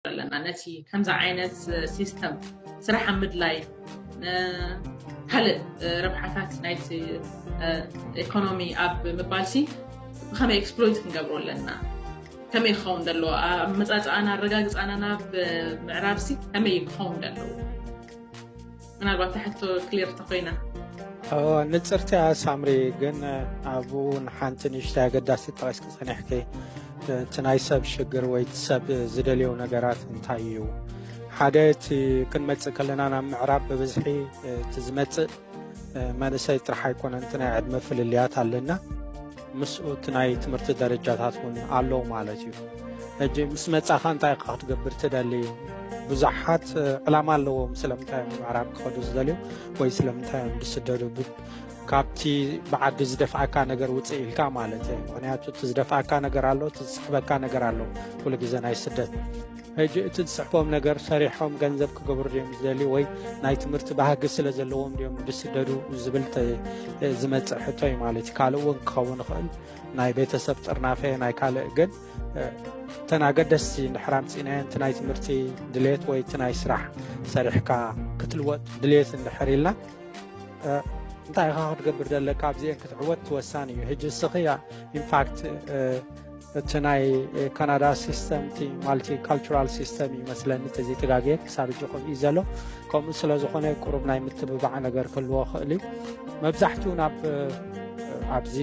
ኣለና ነቲ ከምዚ ዓይነት ሲስተም ስራሕ ኣብ ምድላይ ካልእ ረብሓታት ናይቲ ኢኮኖሚ ኣብ ምባልሲ ብከመይ ኤክስፕሎይት ክንገብሮ ኣለና ከመይ ክኸውን ዘለዎ ኣብ መፃፅኣና ኣረጋግፃና ናብ ምዕራብሲ ከመይ ክኸውን ዘለዎ ምናልባት እታ ሕቶ ክሊር እንተኾይና። ንጽርቲ እያ ሳምሪ ግን ኣብኡ ንሓንቲ ንእሽተይ ኣገዳሲ ጠቂስኪ ጸኒሕኪ እቲ ናይ ሰብ ሽግር ወይ እቲ ሰብ ዝደልዮ ነገራት እንታይ እዩ ሓደ እቲ ክንመጽእ ከለና ናብ ምዕራብ ብብዝሒ እቲ ዝመጽእ መንእሰይ ጥራሕ ኣይኮነን እቲ ናይ ዕድመ ፍልልያት ኣለና ምስኡ እቲ ናይ ትምህርቲ ደረጃታት እውን ኣሎ ማለት እዩ ሕጂ ምስ መጻኻ እንታይ ኢኻ ክትገብር ትደሊ እዩ ብዙሓት ዕላማ ኣለዎም ስለምንታይ እዮም ምዕራብ ክኸዱ ዝደልዩ ወይ ስለምንታይ እዮም ዝስደዱ ካብቲ ብዓዲ ዝደፍኣካ ነገር ውፅእ ኢልካ ማለት እዩ ምክንያቱ እቲ ዝደፍኣካ ነገር ኣሎ እቲ ዝስሕበካ ነገር ኣሎ ኩሉ ግዜ ናይ ስደት ሕጂ እቲ ዝስሕቦም ነገር ሰሪሖም ገንዘብ ክገብሩ ድዮም ዝደልዩ ወይ ናይ ትምህርቲ ባህጊ ስለ ዘለዎም ድዮም ዝስደዱ ዝብል ዝመፅእ ሕቶ እዩ ማለት እዩ ካልእ እውን ክኸውን ይኽእል ናይ ቤተሰብ ጥርናፈ ናይ ካልእ ግን እተን ኣገደስቲ ንድሕር ኣምፂእናየን እቲ ናይ ትምህርቲ ድሌት ወይ እቲ ናይ ስራሕ ሰሪሕካ ክትልወጥ ድሌት እንድሕር ኢልና እንታይ ኢኻ ክትገብር ዘለካ ኣብዚአን ክትዕወት ትወሳኒ እዩ ሕጂ እስኺ ኢንፋክት እቲ ናይ ካናዳ ሲስተም እቲ ማልቲ ካልቸራል ሲስተም እዩ መስለኒ ተዘይተጋግየ ክሳብ እጂ ከምኡ እዩ ዘሎ ከምኡ ስለ ዝኾነ ቁሩብ ናይ ምትብባዕ ነገር ክህልዎ ክእል እዩ መብዛሕትኡ ናብ ኣብዚ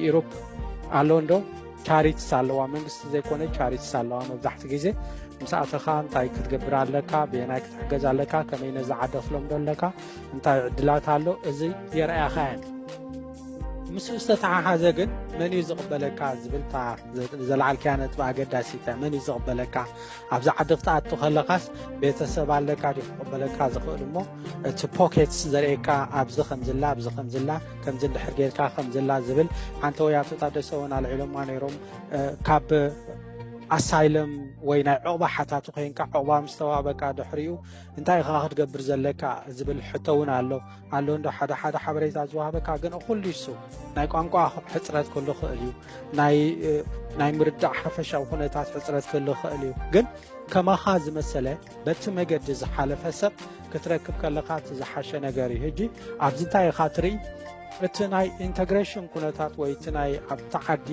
ኢሮፕ ኣሎ እንዶ ቻሪትስ ኣለዋ መንግስቲ ዘይኮነ ቻሪትስ ኣለዋ መብዛሕቲ ግዜ ምስ ኣተኻ እንታይ ክትገብር ኣለካ ብየናይ ክትሕገዝ ኣለካ ከመይ ነዚ ዓደ ክለምዶ ኣለካ እንታይ ዕድላት ኣሎ እዚ የርኣያኻ እየን ምስኡ ዝተተሓሓዘ ግን መን እዩ ዝቕበለካ ዝብልታ ዘለዓልክያ ነጥቢ ኣገዳሲተ መን እዩ ዝቕበለካ ኣብዚ ዓዲ ክትኣቱ ከለካስ ቤተሰብ ኣለካ ዲ ክቕበለካ ዝኽእል እሞ እቲ ፖኬትስ ዘርእካ ኣብዚ ከምዝላ ኣብዚ ከምዝላ ከምዚ እንድሕር ጌርካ ከምዝላ ዝብል ሓንቲ ወይ ኣቶ ታደሰ እውን ኣልዒሎማ ነይሮም ካብ ኣሳይለም ወይ ናይ ዕቕባ ሓታቱ ኮይንካ ዕቕባ ምስተዋበካ ድሕሪኡ እንታይ ኢኻ ክትገብር ዘለካ ዝብል ሕቶ እውን ኣሎ ኣሎ እንዶ ሓደ ሓደ ሓበሬታ ዝዋሃበካ ግን እኹል ይሱ ናይ ቋንቋ ሕፅረት ክህሉ ክእል እዩ ናይ ምርዳእ ሓፈሻዊ ኩነታት ሕፅረት ክህሉ ክእል እዩ ግን ከማኻ ዝመሰለ በቲ መገዲ ዝሓለፈ ሰብ ክትረክብ ከለካ እቲ ዝሓሸ ነገር እዩ ሕጂ ኣብዚ እንታይ ኢኻ ትርኢ እቲ ናይ ኢንተግሬሽን ኩነታት ወይ እቲ ናይ ኣብቲ ዓዲ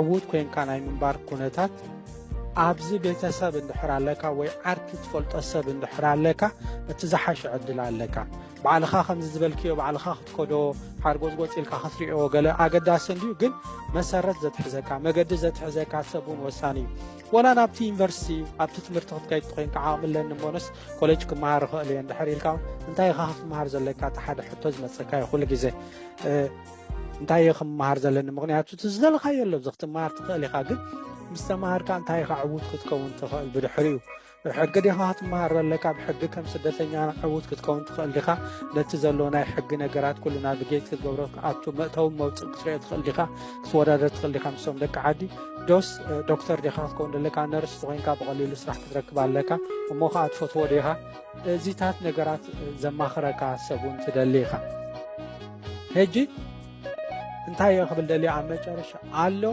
ዕዉት ኮንካ ናይ ምንባር ኩነታት ኣብዚ ቤተሰብ እንድሕር ኣለካ ወይ ዓርኪ ትፈልጦ ሰብ እንድሕር ኣለካ እቲ ዝሓሸ ዕድል ኣለካ ባዕልኻ ከምዚ ዝበልክዮ ባዕልኻ ክትከዶ ሓርጎዝጎፅ ኢልካ ክትሪኦ ገለ ኣገዳሲ እንድዩ ግን መሰረት ዘትሕዘካ መገዲ ዘትሕዘካ ሰብ እውን ወሳኒ እዩ ወላ ናብቲ ዩኒቨርሲቲ ኣብቲ ትምህርቲ ክትከይድ ኮይንካ ዓቕሚ ኣለኒ እሞንስ ኮሌጅ ክመሃር እኽእል እየ እንድሕር ኢልካ እንታይ ኢኻ ክትመሃር ዘለካ እቲ ሓደ ሕቶ ዝመፀካ እዩ ኩሉ ግዜ እንታይ እየ ክምሃር ዘለኒ ምክንያቱ እቲ ዝደለካዮ ኣሎ እዚ ክትምሃር ትኽእል ኢኻ ግን ምስ ተምሃርካ እንታይ ኢኻ ዕዉት ክትከውን ትኽእል ብድሕሪኡ ሕጊ ዲኻ ክትምሃር ዘለካ ብ ሕጊ ከም ስደተኛ ዕዉት ክትከውን ትኽእል ዲኻ ነቲ ዘሎ ናይ ሕጊ ነገራት ኩሉ ናቪጌት ክትገብሮ ኣቱ መእተዊ መውፅእ ክትሪኦ ትኽእል ዲኻ ክትወዳደር ትኽእል ዲኻ ምስቶም ደቂ ዓዲ ዶስ ዶክተር ዲኻ ክትከውን ዘለካ ነርስ ተኮይንካ ብቐሊሉ ስራሕ ክትረክብ ኣለካ እሞ ከዓ ትፈትዎ ዲኻ እዚታት ነገራት ዘማኽረካ ሰብ እውን ትደሊ ኢኻ ሕጂ እንታይ እዮ ክብል ደልዮ ኣብ መጨረሻ ኣሎ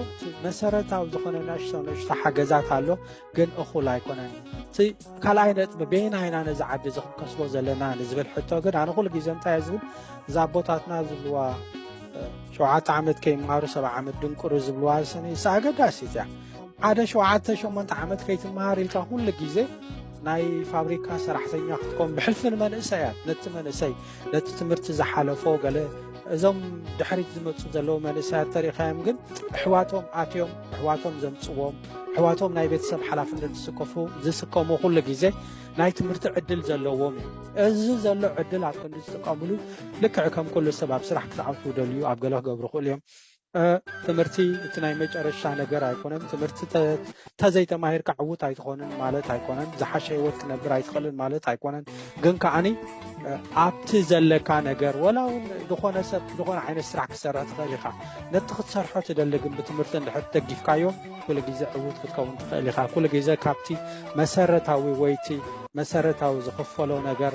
መሰረታዊ ዝኾነ ናሽቶ ንእሽቶ ሓገዛት ኣሎ ግን እኹል ኣይኮነን እቲ ካልኣይ ነጥቢ ቤና ኢና ነዚ ዓዲ እዚ ክንከስቦ ዘለና ንዝብል ሕቶ ግን ኣነ ኩሉ ግዜ እንታይ ዝብል እዛ ኣቦታትና ዝብልዋ ሸውዓተ ዓመት ከይመሃሩ ሰብዓ ዓመት ድንቁሩ ዝብልዋ ዝሰነ ይስ ኣገዳሲ እያ ሓደ ሸውዓተ ሸሞንተ ዓመት ከይትመሃር ኢልካ ኩሉ ግዜ ናይ ፋብሪካ ሰራሕተኛ ክትኮን ብሕልፊ ንመንእሰያት ነቲ መንእሰይ ነቲ ትምህርቲ ዝሓለፎ ገለ እዞም ድሕሪት ዝመፁ ዘለዉ መንእሰያት ተሪካዮም ግን ኣሕዋቶም ኣትዮም ኣሕዋቶም ዘምፅዎም ኣሕዋቶም ናይ ቤተሰብ ሓላፍነት ዝስከፉ ዝስከሙ ኩሉ ግዜ ናይ ትምህርቲ ዕድል ዘለዎም እዩ እዚ ዘሎ ዕድል ኣብ ክንዲ ዝጥቀምሉ ልክዕ ከም ኩሉ ሰብ ኣብ ስራሕ ክትዓውቱ ደልዩ ኣብ ገለ ክገብሩ ክእሉ እዮም ትምህርቲ እቲ ናይ መጨረሻ ነገር ኣይኮነን። ትምህርቲ ተዘይተማሂርካ ዕውት ኣይትኾንን ማለት ኣይኮነን። ዝሓሸ ህይወት ክነብር ኣይትኽእልን ማለት ኣይኮነን። ግን ከዓኒ ኣብቲ ዘለካ ነገር ወላ እውን ዝኾነ ሰብ ዝኾነ ዓይነት ስራሕ ክሰርሕ ትኽእል ኢኻ። ነቲ ክትሰርሖ ትደሊ ግን ብትምህርቲ እንድሕር ደጊፍካዮ ኩሉ ግዜ ዕዉት ክትከውን ትኽእል ኢኻ። ኩሉ ግዜ ካብቲ መሰረታዊ ወይቲ መሰረታዊ ዝኽፈሎ ነገር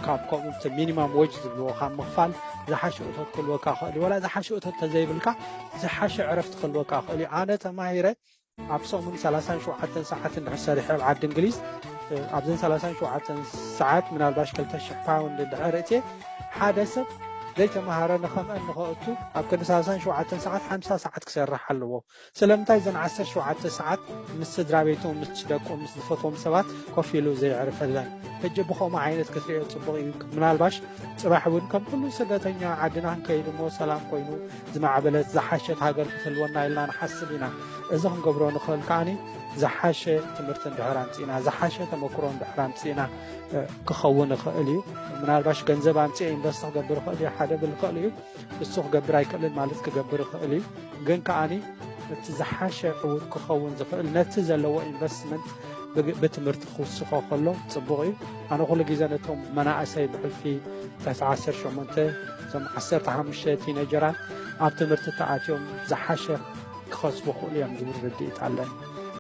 ካብ ከምኡ እቲ ሚኒማም ወጅ ዝብልዎ ካብ ምኽፋል ዝሓሸ እቶት ክህልወካ ክእል እዩ። ወላ ዝሓሸ እቶት ተዘይብልካ ዝሓሸ ዕረፍቲ ክህልወካ ክእል እዩ። ኣነ ተማሂረ ኣብ ሰሙን ሰላሳን ሸውዓተን ሰዓት እንድሕር ሰሪሐ ኣብ ዓዲ እንግሊዝ ኣብዘን ሰላሳን ሸውዓተን ሰዓት ምናልባሽ ክልተ ሽሕ ፓውንድ እንድሕር እትየ ሓደ ሰብ ዘይተምሃረ ንኸምአ ንኸእቱ ኣብ ክንዲ ሰላሳን ሸውዓተን ሰዓት ሓምሳ ሰዓት ክሰርሕ ኣለዎ ስለምንታይ እዘን ዓሰርተ ሸውዓተ ሰዓት ምስ ስድራቤቱ ምስ ደቁ ምስ ዝፈትዎም ሰባት ኮፍ ኢሉ ዘየዕርፈለን ሕጂ ብከምኡ ዓይነት ክትሪኦ ጽቡቅ እዩ ምናልባሽ ጽባሕ ውን ከም ኩሉ ስደተኛ ዓድና ክንከይድ እሞ ሰላም ኮይኑ ዝማዕበለት ዝሓሸት ሃገር ክትህልወና ኢልና ንሓስብ ኢና እዚ ክንገብሮ ንክእል ከኣኒ ዝሓሸ ትምህርቲ እንድሕር ኣምጺእና ዝሓሸ ተመክሮ እንድሕር ኣምጺእና ክኸውን ይኽእል እዩ ምናልባሽ ገንዘብ ኣምጺኤ ኢንቨስት ክገብር ይኽእል እዩ ሓደ ብል ይኽእል እዩ እሱ ክገብር ኣይክእልን ማለት ክገብር ይኽእል እዩ ግን ከዓኒ እቲ ዝሓሸ እውን ክኸውን ዝኽእል ነቲ ዘለዎ ኢንቨስትመንት ብትምህርቲ ክውስኾ ከሎ ፅቡቕ እዩ ኣነ ኩሉ ግዜ ነቶም መናእሰይ ብሕልፊ ትሕቲ 18 እዞም 15 ቲነጀራት ኣብ ትምህርቲ ተኣትዮም ዝሓሸ ክኸስቡ ክእሉ እዮም ዝብል ርድኢት ኣለኒ